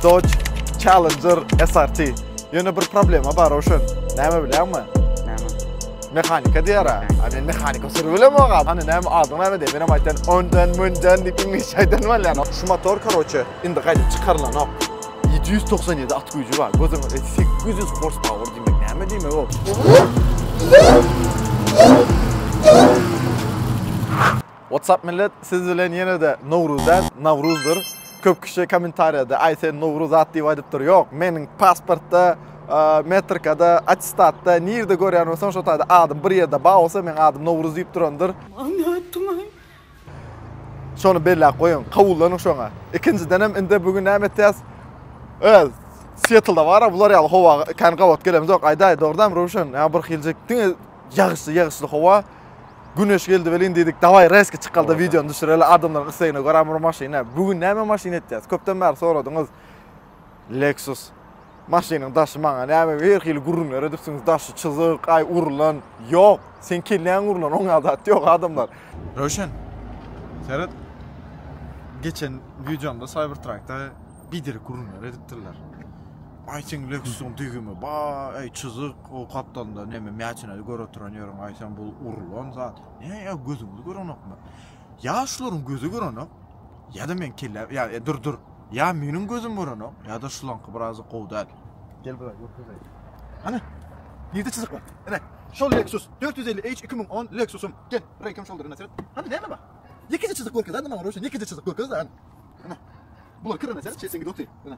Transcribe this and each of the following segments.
Dodge Challenger SRT. Ýöne bir problema bar oşun. Näme bilýärmi? Näme? Mehanika diýär ha. Ha men mehanika sürübilem oga. Hany näme adyň näme diýip menem aýtdan ondan mundan diýip iňlisçe aýdan bolýan. Şu motor karoçe indi gaýdyp çykarylanok. 797 at güýji bar. Gözüň 800 horsepower diýmek näme diýmek o? WhatsApp millet siz bilen ýenede Nowruz däl Nawruzdyr köp kişi komentarýada aý sen Nowruz at diýip aýdypdyr ýok meniň pasportda metrikada attestatda nirde görýän bolsaň şo taýda adym bir ýerde bar bolsa meň adym Nowruz diýip durandyr. Many aýtdyňaý. Şony belläp goýuň kabullanyň şoňa ikinjidenem indi bu gün näme etýäs öz Seattlda bara bular ýaly howa kän gabat gelemizok aýdaý dogrudan Röwşen ýa bir hiljik diňe ýagyşly ýagyşly howa. Güneş geldi welin diýdik, dawaý reski çykalda wideony düşüreli adamlaryň islegine görä bir maşyna. Bu gün näme maşyn etýäs? Köpden bäri soradyňyz. Lexus maşynyň daşy maňa näme her hili gürrüňler edipsiňiz, daşy çyzyk, aý urulan. Ýok, seň kelläň urulan, oňa zat ýok adamlar. Röwşen, seret. Geçen wideomda Cybertruckda biderek gürrüňler edipdirler. Ay sen Lexusun dügümi ba ay çyzyk o kaptanda neme mäçine gör oturan ýörüň ay sen bul urulan zat. Ne ya gözüňiz görenokmy? Ya şularyň gözi görenok ya da men kelle ya e, dur dur. Ya meniň gözüm görenok ya da şulaňky biraz gowy däl. Gel bura görkezeyim. Ana. Nirde çyzyk bar? Ana. Şol Lexus 450H 2010 Lexusum. Gel, rekim şoldur ina seret. Hadi näme bak? Yekice çizik görkez, hadi maňa Roşen, yekice çizik görkez, hadi. Ana. Bular kırana seret, çesengi doty. Ana.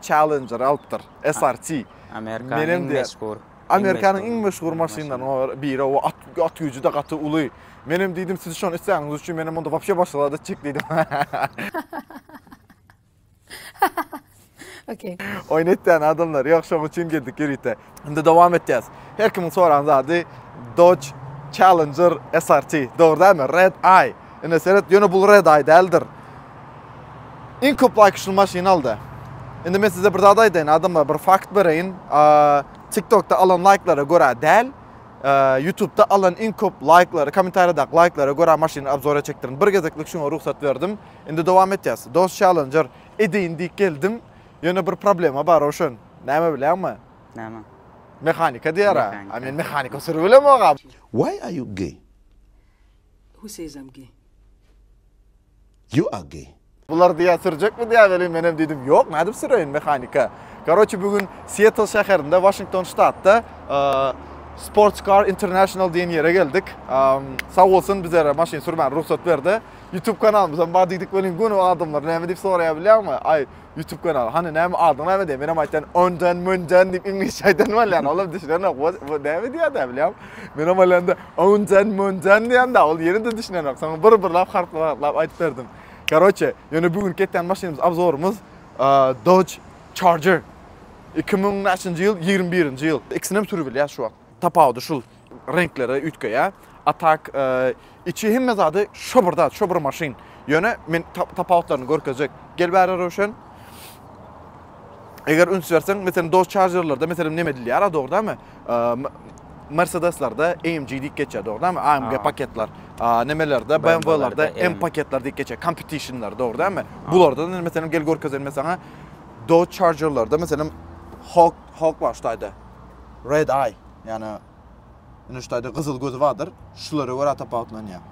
Challenger alypdyr, SRT. Amerikanyň iň meşhur. Amerikanyň iň meşhur maşynlarynyň biri, o at güýji-de gaty uly. Menem diýdim, siz şony isläniňiz üçin, menem onda wapşe başga zat etjek diýdim. Oýun etýän adamlar ýok, şoň üçin geldik ýörite. Indi dowam etýäs. Her kimiň soran zady Dodge Challenger SRT. Dogry dälmi? Red Eye. Ine seret, ýöne bul Red Eye däldir. Iň köp laýk şu maşyny aldy. Indi men size bir zat aýdaýyn, adamlar, bir fakt bereýin. TikTokda alan laýklara görä däl, YouTubeda alan iň köp laýklara, kommentariýadaky laýklara görä maşyny obzora çekdirin. Bir gezeklik şuňa rugsat berdim. Indi dowam etýäs. Dodge Challenger edeýin diýip geldim. Ýöne bir problema bar Röwşen. Näme bilýäňmi? Näme? Mehanika diýer-ä. A men mehanika sürüp bilemok-a. Why are you gay? Who says I'm gay? You are gay. Bular diýýär, sürjekmi diýýär welin menem diýdim, ýok, nädip süreýin mehanika. Karoçe bu gün Sietl şäherinde, Waşington ştatda Sports Car International diýen ýere geldik. Sag bolsun bizlere maşyn sürmäne rugsat berdi. YouTube kanalymyzam bar diýdik welin göni adamlar näme diýip soraýar bilýäňmi? Aý, Youtube kanaly. Hany näme adyň näme diýen. Menem aýtýan ondan mundan diýip iňlisçe aýdan bolýan. Olam düşünenok. Bu näme diýýärdi bilýän. Menem alanda ondan mundan diýende ol ýene-de düşünenok. Soň bir birlap harplap harplap aýdyp berdim. Karoçe, ýöne bu gün ketýän maşynymyz obzorymyz Dodge Charger. 2000 näçinji ýyl? 21-nji ýyl. Ikisinem sürüp bilýär şu wagt. Tapawudy şul. reňklere üýtgeýä. A tak içi hemme zady şo bir zat, şo bir maşyn. Ýöne men tapawutlaryny görkezjek. Gel bäri Röwşen. Eger üns berseň, meselem Dodge Charger'larda meselem näme edilýär, dogrudanmy? Mercedeslerde AMG diýip geçýär, dogrudanmy? AMG paketler. Nämelerde BMW-lerde M paketler diýip geçýär, competitionlar, dogrudanmy? Bularda meselem gel görkezelim men saňa. Dodge Charger'larda meselem Hawk Hawk bar ştaýda. Red Eye. Ýani ine şu taýda gyzyl gözi bardyr. Şulara görä tapawutlanýar.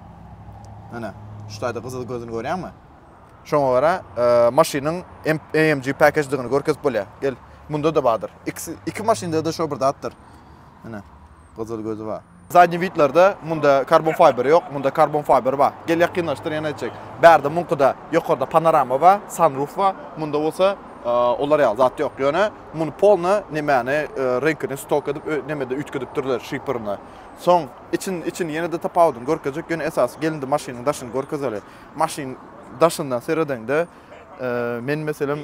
Ine şu taýda gyzyl gözüni görýäňmi? Şoňa görä e, maşynyň AMG package-digini görkezip bolýar. Gel, munda da bardyr. X iki maşynda-da şo bir zatdyr. Ine, gyzyl gözi bar. Zadnýy widlerde munda karbon fiber ýok, munda karbon fiber bar. Gel ýakynlaşdyr ýene etjek. Bärde muňkyda ýokarda panorama bar, sunroof bar. Munda bolsa e, olar ýaly zat ýok. Ýöne Muny polna nemäni renkini stok edip nemede üýtgedipdirler şipirini. Soň içini içini ýene-de tapawudyny görkezjek ýöne esasy gelindi maşynyň daşyny görkezeli. Maşyn daşyndan seredeňde men meselem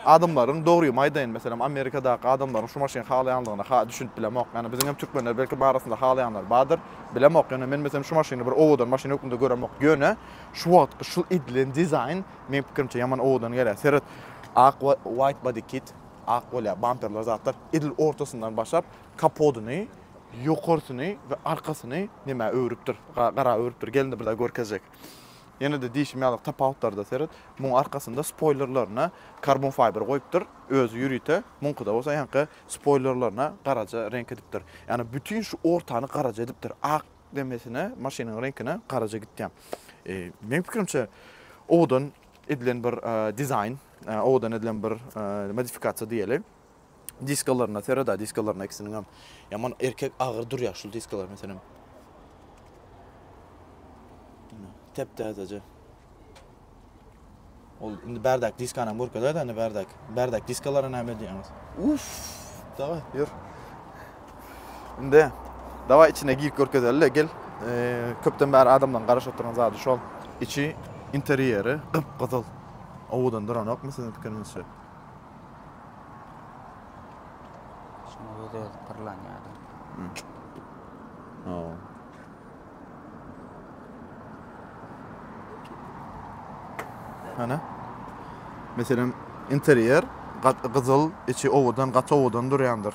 adamlaryň dogrymy aýdaýyn meselem Amerikadaky adamlaryň şu maşyny halaýanlygyna ha düşünip bilemok. Ýani biziň hem türkmenler belki barasynda halaýanlar bardyr bilemok. Ýöne men meselem şu maşyny bir owadan maşyn hökmünde göremok. Ýöne şu wagtky şu edilen dizaýn Meň pikirimçe ýaman owadan gelýär. Seret ak white body kit ak bolýar bamperler zatlar edil ortasyndan başlap kapodyny ýokarsyny we arkasyny nämä öwrüpdir gara öwrüpdir gelin birde görkezjek. Ýenede diýşim ýaly tapawutlarda seret muň arkasynda spoýlerlerine karbon fiber goýupdyr özi ýörite muňkyda bolsa ýaňky spoýlerlerine garaja reňk edipdir ýagny bütin şu ortany garaja edipdir ak demesine maşynyň reňkine garaja gitýän. Meniň pikirimçe owadan edilen bir dizaýn, owadan edilen bir modifikasiýa diýeli. Diskalaryna sereda, diskalaryna ikisiniň hem ýaman erkek agyr durýar şu diskalar meselem. Tep täzeje. Ol indi bärdäki diskanam görkezäýdi indi bärdäki. Bärdäki diskalara näme diýýäňiz? Uff, dawa, ýör. Indi dawa içine girip görkezeli, gel. Köpden bäri adamlaryň garaşyp oturan zady şol. Içi interýeri gyp-gyzyl. Owadan duranokmy siziň pikiriňizçe? Şunuň özi-özi pyrlanýar. Hawa. Ana. Meselem, interýer gyzyl, içi owadan, gaty owadan durýandyr.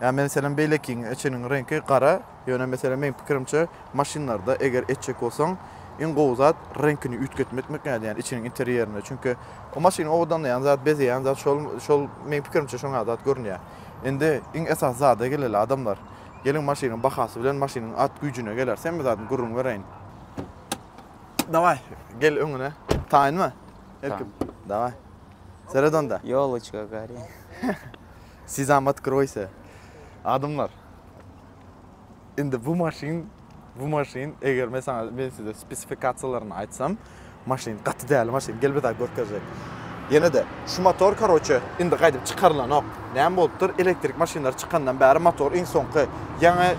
Ýa yani meselem beýlekiň içiniň reňki gara, ýöne meselem meniň pikirimçe maşynlarda eger etjek bolsaň, iň gowy zat reňkini üýtgetmekmek ýaly, ýani içiniň interýerini. Çünki o maşyny owadanlaýan zat, bezeýän zat şol, şol meniň pikirimçe şoňa zat görünýär. Indi iň esasy zada geleli adamlar. Geliň maşynyň bahasy bilen maşynyň at güýjüne geläris hemme zadyň gürrüň bereýin. Daway, gel öňüne. Taýynmy? Erkim. Daway. Seret onda. Ýolçga gary. Sizam otkroýsa. Adamlar. Indi bu maşyn Bu maşyn eger men saňa men size spesifikasiýalaryny aýtsam, maşyn gaty däli maşyn. Gel bir zat görkezjek. Ýene-de şu motor karoçe indi gaýdyp çykarylanok. Näme bolupdyr? Elektrik maşynlar çykandan bäri motor iň soňky ýaňy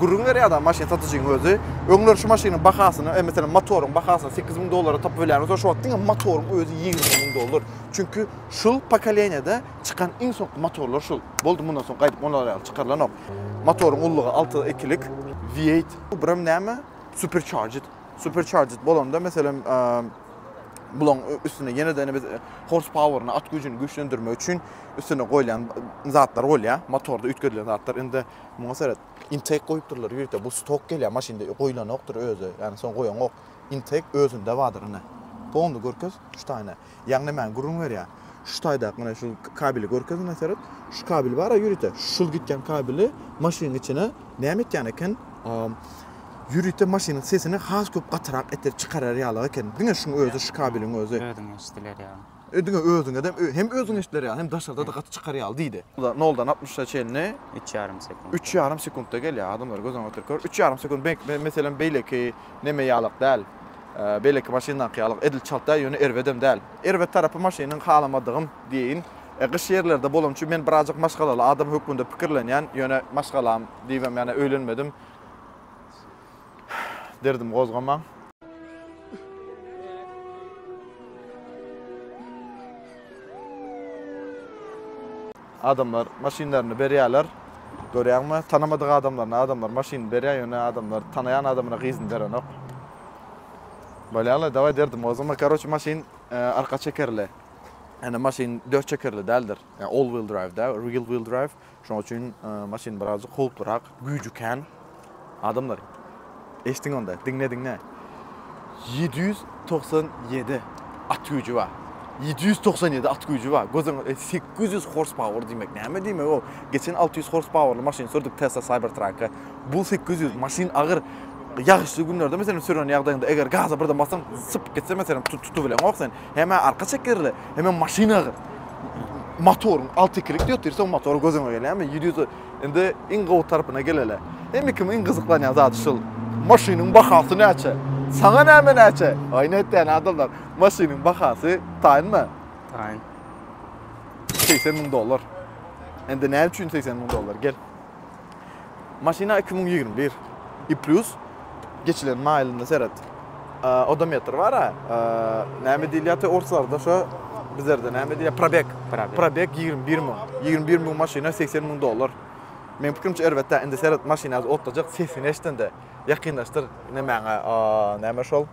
gürrüň berýär da maşyn satyjyň özi. Öňler şu maşynyň bahasyny, e, meselem, motoryň bahasyny 8000 dollara tapyp bilýän bolsa, şu wagt diňe motoryň özi 20 müň dollar. Çünki şul pokoleniýada çykan iň soňky motorlar şul. Boldy, mundan soň gaýdyp olar ýaly çykarylanok. Motoryň ullugy alty ikilik. V eight. Bu birem näme? Supercharged. Supercharged bolanda meselem bulaň üstüne ýene-de indi biz horse power-ny, at güýjüni güýçlendirmek üçin üstüne goýlan zatlar bolýar. Motorda üýtgedilen zatlar. Indi muňa seret. Intake goýupdyrlar ýörite. Bu stok gelýär maşynda goýlanokdyr özi. Ýagny soň goýanok. Intake özünde bardyr ine. Polny görkez, şu taýyny. Ýagny men gürrüň berýän. Şu taýdaky menä şu kabeli görkez menä seret. Şu kabel bar-a ýörite. Şul gitýän kabeli maşynyň içine näme etýän eken? Ýörite maşynyň sesini has köp gatyrak etdirip çykarar ýaly eken. Diňe şuň özi, şu kabeliň özi. Özüňe eşdiler ýaly. Diňe özüňe de hem özüňe eşdiler ýaly, hem daşarda-da gaty çykar ýaly diýdi. Noldan altmyşa çenli. Üç ýarym sekuntda. Üç ýarym sekuntda gelýär. Adamlar göz öňünde oturyp gör. Üç ýarym sekunt, meselem, beýleki neme ýalak däl. Beýleki maşyndaky ýaly edil çalt-a, ýöne erbedem däl. Erbet tarapy maşynyň halamadygym diýeýin. Gyş ýerlerde bolan üçin men birazajyk maşgalaly adam hökmünde pikirlenýän, ýöne maşgalam diýibem ýene öýlenmedim. Derdim gozgamaň. Adamlar maşynlaryny berýärler. Görýäňmi? Tanamadyk adamlaryna adamlar maşynyny berýär, ýöne adamlar tanaýan adamyna gyzyny berenok. Bolýa-la, dawaý derdim, ozama, karoçe, maşyn arka çekerli. Ýöne maşyn dört çekerli däldir. Ýa all-wheel drive-dä, real wheel drive. Şonuň üçin maşyn birazajyk howplurak. Güýji kän adamlar. Eşdiň onda, diňle diňle. Ýedi ýüz togsan ýedi at güýji bar. Ýedi ýüz togsan ýedi at güýji bar. Göz öňüňe, sekiz ýüz horspower diýmek näme diýmek o? Geçen alty ýüz horspowerly maşyn sürdük Tesla Cybertruck-a. Bu sekiz ýüz. Maşyn agyr. Ýagyşly günlerde meselem süren ýagdaýyňda eger gaza birden bassaň, sypyp gitse meselem tu- tutubileňok sen. Hem-ä arka çekerli, hemem maşyn agyr. Motoryň alty ikilik diýip otyr, soň motory göz öňe gelýärmi? Ýedi ýüz. Indi iň gowy tarpyna geleli. Indi kim iň gyzyklanýan zady şul. Maşynyň bahasy näçe? Saňa näme näçe? Aý nätýän adamlar. Maşynyň bahasy taýynmy? Taýyn. 80 müň dollar. Indi näme üçin 80 müň dollar? Gel. Maşyna 2021. I plus Geçilen maýylyna seret. Odometr bar-a. Näme diýilýär te orslarda şo bizlerde näme diýýär? Probek. Probek 21 müň. 21 müň maşyna 80 müň dollar. Meň pikirimçe erbet-ä. Indi seret maşyny otdajak sesini eşdende ýakynlaşdyr nemäňe näme şol?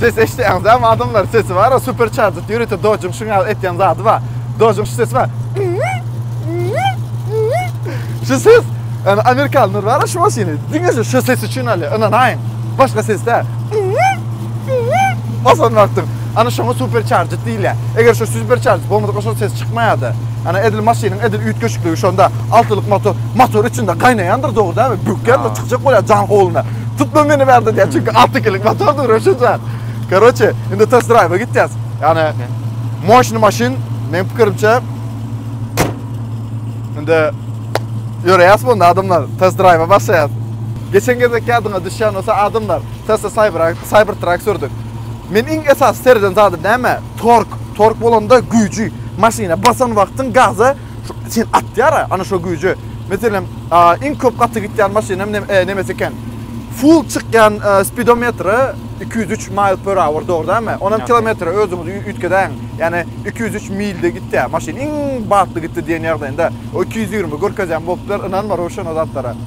Ses eşitýäňiz hem adamlar sesi var, supercharger ýörite Dodge-yň şuň ýaly etýän zady bar. Dodge-yň şu sesi bar. Şu ses yani Amerikanlar var şu maşyny. Diňe şu, şu ses üçin alýar. Ynanaýyň. Başga ses däl. Osan wagtyň Ana şoňa supercharged diýilýär. Eger şu supercharged bolmasa şol ses çykmaýardy. Ana edil maşynyň edil üýtgeşikligi şonda altylyk motor, motor içinde gaýnaýandyr dogrydaby, bökýändir çykjak bolýar jaň howluna. Tutma meni bärde diýýär çünki alty ikilik motordyr öşe jaň. Karoçe indi test drive gitýäs. Ýagny moşny maşyn meň pikirimçe indi ýöreýäs bu adamlar test drive başlaýas. Geçen gezek ýadyňa düşýän bolsa adamlar Tesla Cyber Cybertruck sürdük. Men iň esasy sereden zady näme? Tork. Tork bolanda güýji. Maşyna basan wagtyň gaza şu seni atýar-a, ana şo güýje. Meselem, iň köp gaty gitýän maşynam nemesi eken? Full çykýan spidometre iki ýüz üç mile per hour, dogry dälmi? Onam kilometre özüňiz üýtgedäň. Ýagny iki ýüz üç milde gitýär maşyn. Iň batly gitdi diýen ýagdaýynda. O iki ýüz ýigrimi görkezýän bolupdyr, ynanma Röwşen o zatlara.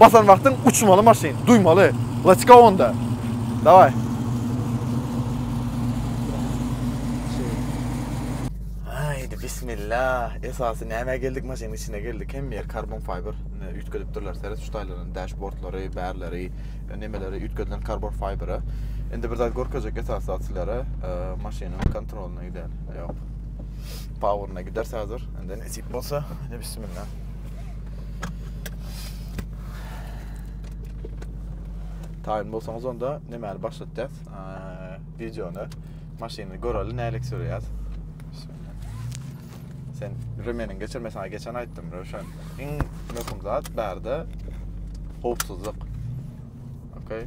Basan wagtyň uçmaly maşyn, duýmaly. Let's go onda. Daway. Haydi bismillah. Esasy näme geldik maşynyň içine geldik. Hem yer karbon fiber üýtgedip durlar. Seret şu taýlaryň dashboardlary, bärleri, e, nemeleri üýtgedilen karbon fibere. Indi bir zat görkezjek esasy zat sizlere e, maşynyň kontrolyna gider. Ýok. Powerna gider hazır. Indi nesip bolsa, indi bismillah. Taýyn bolsaňyz onda nämäli başlatýas? Wideony, maşyny göreli nälik sürýär. Sen Römeniň geçirme sana geçen aýtdym, Röşen. Iň möhüm zat bärde howpsuzlyk. Okay.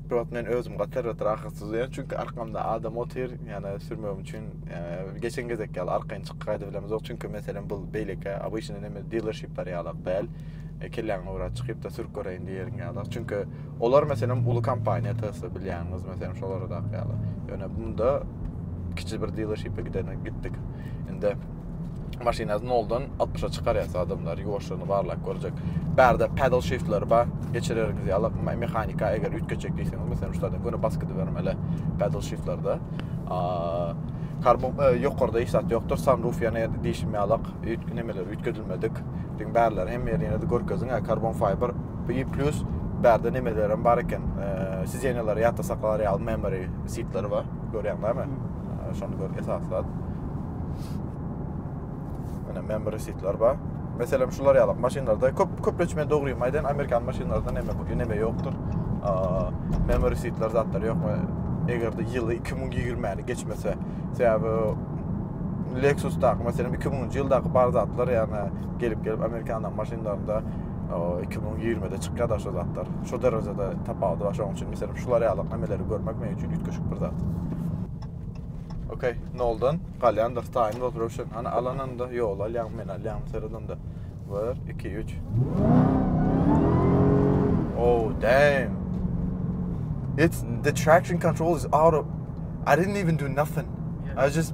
Brat men özüm gatar gatar ahyrsyz diýen çünki arkamda adam otyr ýana sürmegim üçin ýa geçen gezek ýaly arkaýyn çykyp gaýdyp bilemizok çünki meselem bu beýleki abyşyny näme dealership bar ýaly däl e, kelläňi ora çykyp da sürüp göreýin diýerin ýaly çünki olar meselem uly kompaniýa Tesla bilýäňiz meselem şolara da ýaly ýöne bunda kiçi bir dealership gidene gitdik indi maşyny noldan altmyşa çykarýas adamlar ýuwaşlygyny barlap görjek bärde pedal shiftler bar geçirergiz ýalyk mehanika eger üýtgetjek diýseňiz meselem şulardan göni bas gidibermeli pedal shiftlerde karbon e, ýokarda hiç zat ýokdur sunroof ýene diýşim ýalyk nemeler üýtgedilmedik diň bärler hem ýerine görkeziň karbon fiber bir plus bärde nemeler hem bar eken e, sizenýalar ýatda saklalar ýaly memory seatler bar görýäňizmi Şony gör esas zat. Ana men bir sitler bar. Meselem şular ýaly maşynlarda köp köpleçme dogry maýdan amerikan maşynlarynda neme bu neme ýokdur. Memory sitler zatlar ýokmy? Eger de ýyly 2020-ni geçmese, sebäbi Lexus-daky, meselem 2000-nji ýyldaky bar zatlar, ýagny gelip-gelip amerikan maşynlarynda iki müň ýigrimide çykýar da şu zatlar. Şu derejede tapawudy bar. Şonuň üçin meselem şular ýaly emeleri görmek men üçin üýtgeşik bir zat. Okey, noldan galýandyr time was Russian. Ana alananda ýol alýan men alýan seredende. 1 2 3. Oh damn. It's the traction control is out of I didn't even do nothing. I just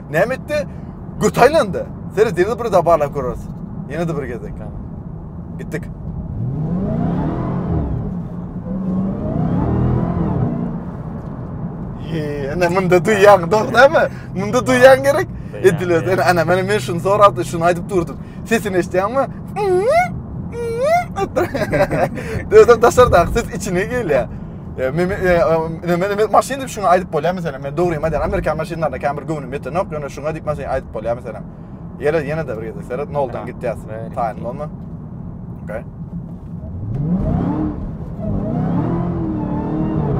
Näme etdi? Göt aýlandy. Seret, ýene bir de barlap göreris. Ýene de bir gezek. Gitdik. Ene munda duýýan, dogry näme? Munda duýýan gerek. Ediler. Ene ana meni men şunu sorapdy, şunu aýdyp durdum. Sesini eşitýäňmi? Döwden daşarda, ses içine gelýär. E, men e, e, men men maşyn diýip şuňa aýdyp bolýar meselem. Men dogry aýdýan Amerika maşynlaryna käbir göwnüm ýeten ýok, ýöne şuňa diýip maşyn aýdyp bolýar meselem. Ýere ýene de bir gezek seret, noldan gitýäs. Taýyn bolma. Okay.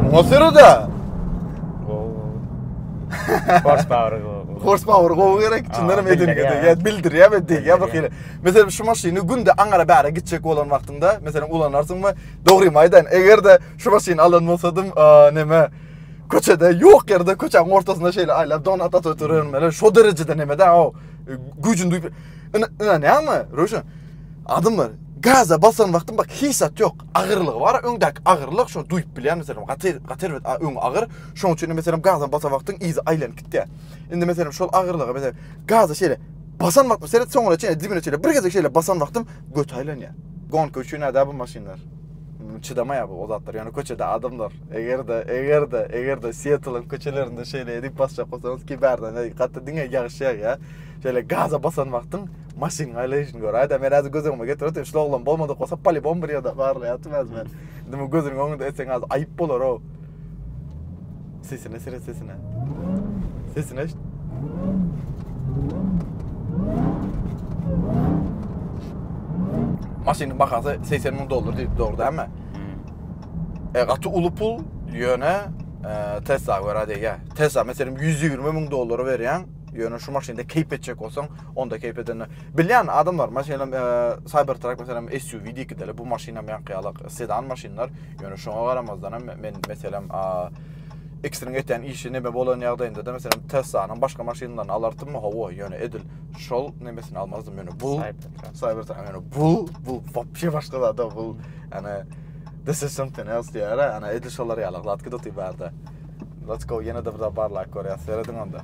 Muňa sürede. Horsepower gowy. Horsepower gowy gerek. Çyndan hem edin gede. Ya bildir ya be diýip ya bir hili. Mesela şu maşyny günde aňara bäre gitjek bolan wagtyňda, mesela ulanarsyň we Dogrymy aýdaýyn, eger-de şu maşyny alan bolsadym, näme köçede ýok ýerde köçäň ortasynda şeýle aýlap donat atyp oturaryn mele şo derejede nämede o güýjüni duýup ynanýaňmy Röwşen adym bar gaza basan wagtym bak hiç zat ýok agyrlygy bar öňdäki agyrlyk şo duýup bilýän meselem gaty gaty erbet öň agyr şoň üçin meselem gaza basan wagtyň yzy aýlanyp gitýär indi meselem şol agyrlygy meselem gaza şeýle Basan wagtym seret soňuna çenli dibine çenli bir gezek şeýle basan wagtym göti aýlanýar. Gonka üçin ada bu maşynlar. Çydamaýar bu zatlar. Ýöne köçede adamlar eger-de eger-de eger-de Sietliň köçelerinde şeýle edip basjak bolsaňyz ki bärden eý gaty diňe ýagyş ýagýa. Şeýle gaza basan wagtyň maşynyň aýlaýşyny göräýdä. Men häzir göz öňüme getirip otyryn. Şular oglan bolmadyk bolsa polibom bir ýerde barlaýatym häzir men. Indi bu gözüniň öňünde etseň häzir aýyp bolar-ow. Sesine sere sesine. Sesine eşit. Maşynyň bahasy 80 ming dollar diýip dogry dämi? Hmm. E, gaty uly pul, ýöne e, Tesla görä diýýä. Tesla meselem 120 ming dollara berýän, ýöne şu maşynda keýp etjek bolsaň, onda keýp edende. Bilýän adamlar, maşynam e, Cybertruck meselem SUV diýip gideli, bu maşynam ýaňky ýaly sedan maşynlar. Ýöne şoňa garamazdan hem men meselem X-niň etýän işi neme bolan ýagdaýynda-da meselem Tesla-nyň başga maşynlaryny alartymmy? Hawa, ýöne edil şol nemesini almazdym. Ýöne bu Cybertruck, ýöne bu, bu wapşe başga zada, bu ýöne this is something else diýýär, ýöne edil şolar ýaly, gladki doty barda. Let's go, ýene-de bir barlag görýäs, serediň onda.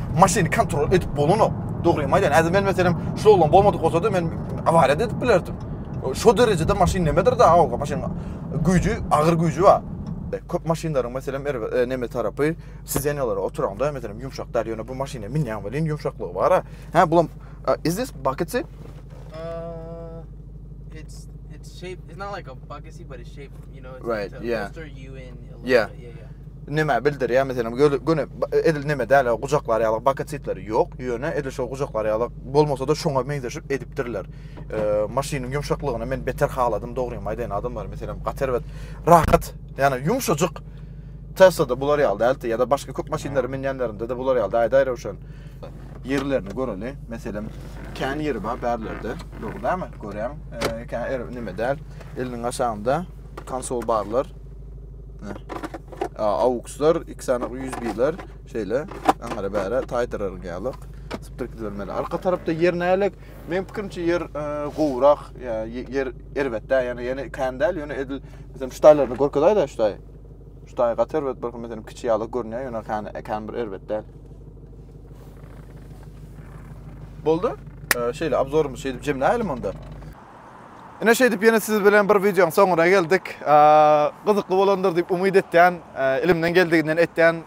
maşyny kontrol edip bolanok. Dogrymy aýdan, äze men meselem şu oglan bolmadyk bolsady, men awariýa edip bilerdim. Şu derejede maşyn nemedir da, awga maşyn güýji, agyr güýji bar. Köp maşynlaryň meselem er e, neme tarapy sizenýalara oturaňda meselem ýumşak däl, ýöne bu maşyna minýän welin ýumşaklygy bar. Hä, bulam uh, is this bucketsy? Uh, it's it's shaped. It's not like a bucketsy, but it's shaped You know, it's Right, to yeah. bolster you in a little Yeah. bit. Yeah, yeah. Näme bildirýär meselem göle- göni ba- edil näme däl gujaklar ýaly bakasitleri ýok ýöne edil şo gujaklar ýaly bolmasa-da şoňa meňzeşip edipdirler. Eee, maşynyň ýumşaklygyny men beter haladym dogrymy aýdaýyn adamlar meselem gaty erbet rahat ýany ýumşajyk Tesla-da bular ýaly däldi ýa-da başga köp maşynlary minýänlerinde-de bular ýaly dädi aýry uşan. ýerlerini göreli. Meselem, kän ýeri bar bärlerde. Dogry dälmi? Görýäň, eee, kän er näme däl. Eliniň aşagynda konsol barlar. AUX'lar, iki sany USB-ler, şeýle aňra bäre taýdyraryn ýalyk. Sıpdyr gidilmeli. Arka tarapda ýer nälik? Men pikirimçe ýer e, gowrak, ýa ýer erbetde, ýa ýene kan däl, ýöne edil mesela şu taýlaryny görkezaýda şu taý. Şu taý gaty erbet bir mesela kiçi ýaly görünýär, ýöne kan kan bir erbet däl. Boldy. E, şeýle obzorumyz şeýdip jemläýelim onda. Ine şeýdip ýene siz bilen bir wideoň soňuna geldik. Gyzykly bolandyr diýip umyt etýän, elimden geldiginden etýän.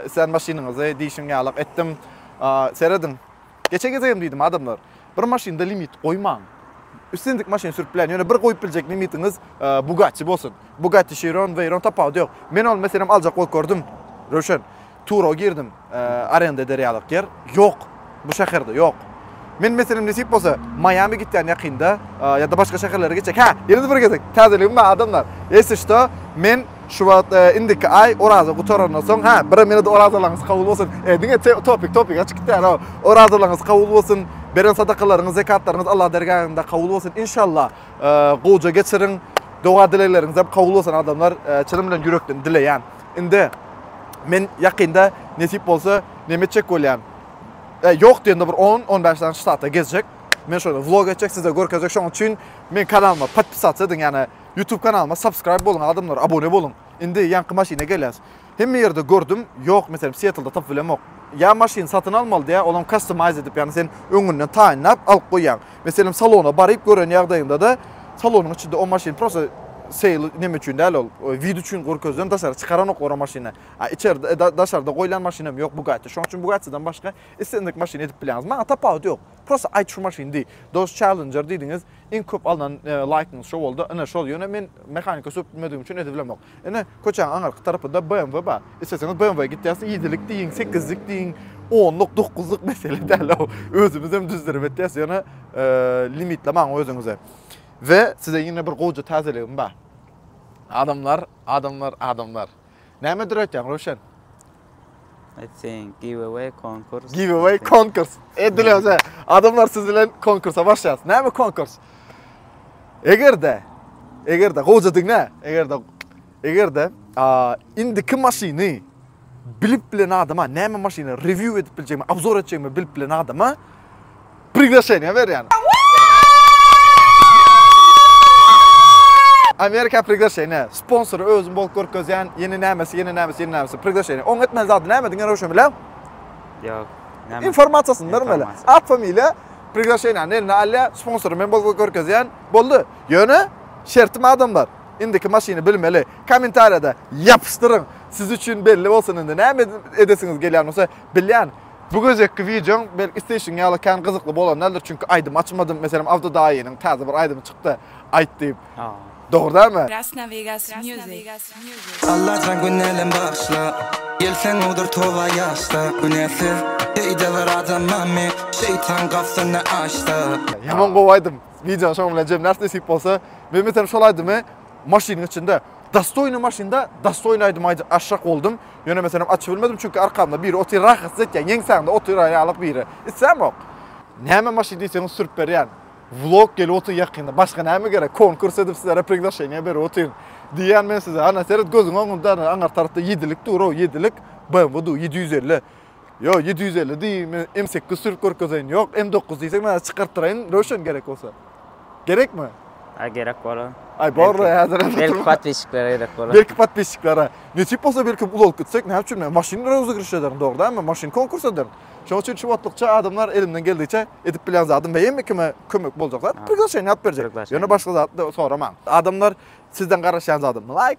Islän maşynyňyzy diýşiň ýalak etdim. Serediň. Geçen gezegem diýdim adamlar, bir maşynda limit goýmaň. Islendik maşyny sürüp bilen, ýöne bir goýup biljek limitiňiz Bugatti bolsun. Bugatti Chiron, Veyron tapawudy ýok. Men ol meselem aljak bolup gördüm. Röwşen. Tura girdim, arenda eder ýalyk ýer ýok, bu şäherde ýok. Men meselem nesip bolsa Maýami gitýän ýakynda ýa-da başga şäherlere gitjek. Hä, ýene-de bir gezek täzeligim bar adamlar. Ýesi şto, men şu wagt indiki aý oraza gutarandan soň, hä, birem ýene-de orazalaryňyz kabul bolsun. E, diňe topik, topik açyk gitýär-ow. Orazalaryňyz kabul bolsun, beren sadakalaryňyz, zekatlaryňyz Allah dergähinde kabul bolsun. Inşallah, gowja geçiriň. Doga-dilegleriňizem kabul bolsun adamlar. Çynym bilen ýürekden dileýän. Indi men ýakynda nesip bolsa neme etjek bolýan. E, ýok diýende bir 10-15 sany ştatda gezjek. Men şöyle vlog etjek, size görkezjek. Şonuň üçin men kanalyma podpisatsa ediň, ýani YouTube kanalyma subscribe boluň adamlar, abone boluň. Indi ýaňky maşyna gelýäs. Hemme ýerde gördüm, ýok, meselem, Seattlda tapyp bilemok. Ýa maşyn satyn almaly diýýär, olam customize edip, ýani sen öňünden taýynlap alyp goýýaň. Meselem salona baryp gören ýagdaýyňdada salonyň içinde o maşyn prosta seýl neme üçin däl ol vid üçin gorkezilen daşary çykaranoklar o maşyny a içerde daşarda goýlan maşyn hem ýok bugatti şoň üçin bugattidan başga islendik maşyny edip bilýäňiz maňa tapawudy ýok prosta aýt şu maşyn diý dos çellenjer diýdiňiz iň köp alnan laýkyňyz şo boldy ine şol ýöne men mehanika söp bilmedigim üçin edip bilemok. Ine, köçäň aňyrky tarapynda BMW bar. Isleseňiz BMW-ä gitýäs, ýedilik diýiň, sekizlik diýiň, onluk, dokuzluk mesele däl-ow. Özümiz hem düzdürip etýäs, ýöne limitlemäň özüňizi. We size ýene bir gowja täzeligim bar. Adamlar, adamlar, adamlar. Näme döretýäň, Röwşen? I think giveaway konkurs. Giveaway konkurs. Edilýär. Adamlar siz bilen konkursa başlaýar. Näme konkurs? Egerde egerde goja diňe egerde egerde a indiki maşyny bilip bilen adama näme maşyny review edip biljegimi, obzor etjegimi bilip bilen adama Priglasheniýa berýän. Amerika priglasheniýa. Sponsory özüm bolup görkezýän. Ýene nämesi, ýene nämesi, ýene nämesi. Priglasheniýa. Oň etmeli zady näme diňe röwşen bilen? Ýok. Näme? Informasiýasyny bermeli. At familiýa priglasheniýany eline alýar. Sponsory men bolup görkezýän. Boldy. Ýöne şertim adamlar. Indiki maşyny bilmeli. Kommentariýada ýapyşdyryň. Siz üçin belli bolsun indi. Näme edesiňiz gelýän bolsa. Bilýän. Bu gezekki wideoň belki isleýşiň ýaly kän gyzykly bolan däldir, çünki aýdym açmadym, meselem Abdy daýynyň täze bir aýdymy çykdy, Aýt diýip. Dogry dälmi? Krasna Vegas Music. Allajan günälem bagyşla Gelseň owdur toba ýaşda Günäsiz Beýde bir adam barmy Şeýtan gapsyny açsa. Ýaman gowy aýdym. Wideony şoň bilen jemläris nesip bolsa. Men meselem şol aýdymy Maşynyň içinde Dastoýny maşynda dastoýny aýdym aýjak aşak boldum. Ýöne meselem açyp bilmedim, çünki arkamda biri otyr, rahatsyz etýän, ýeňsäňde otyr ýalyk biri. Islämok. Näme maşyn diýseňiz sürüp berýän. Vlog gelip otyr ýakynda. Başga näme gerek? Konkurs edip sizlere priglasheniýa berip otyryn. Diýýän men size. Ana seret gözüň öňünde aňyr tarapda ýedilik dur-ow, ýedilik. BMW-du, ýedi ýüz elli. Ýo ýedi ýüz elli diý, men M sekiz sürüp görkezeýin, ýok M dokuz diýseň men çykartdyraýyn, Röwşen gerek bolsa. Gerekmi? Aý gerek bolar. Aý borla häzir. Belki podpisçiklere gerek bolar. Belki podpisçiklere. Nesip bolsa belki uly bolup gitsek, näme üçin men maşyn röwzigiriş ederin, dogry dälmi? Maşyn konkurs ederin. Şoň üçin şu wagtlykça adamlar elimden geldigiçe edip bilýän zadym we hemme kime kömek boljak zat, priglasheniýa alyp berjek. Ýöne başga zat soramaň. Adamlar sizden garaşýan zadym, laýk.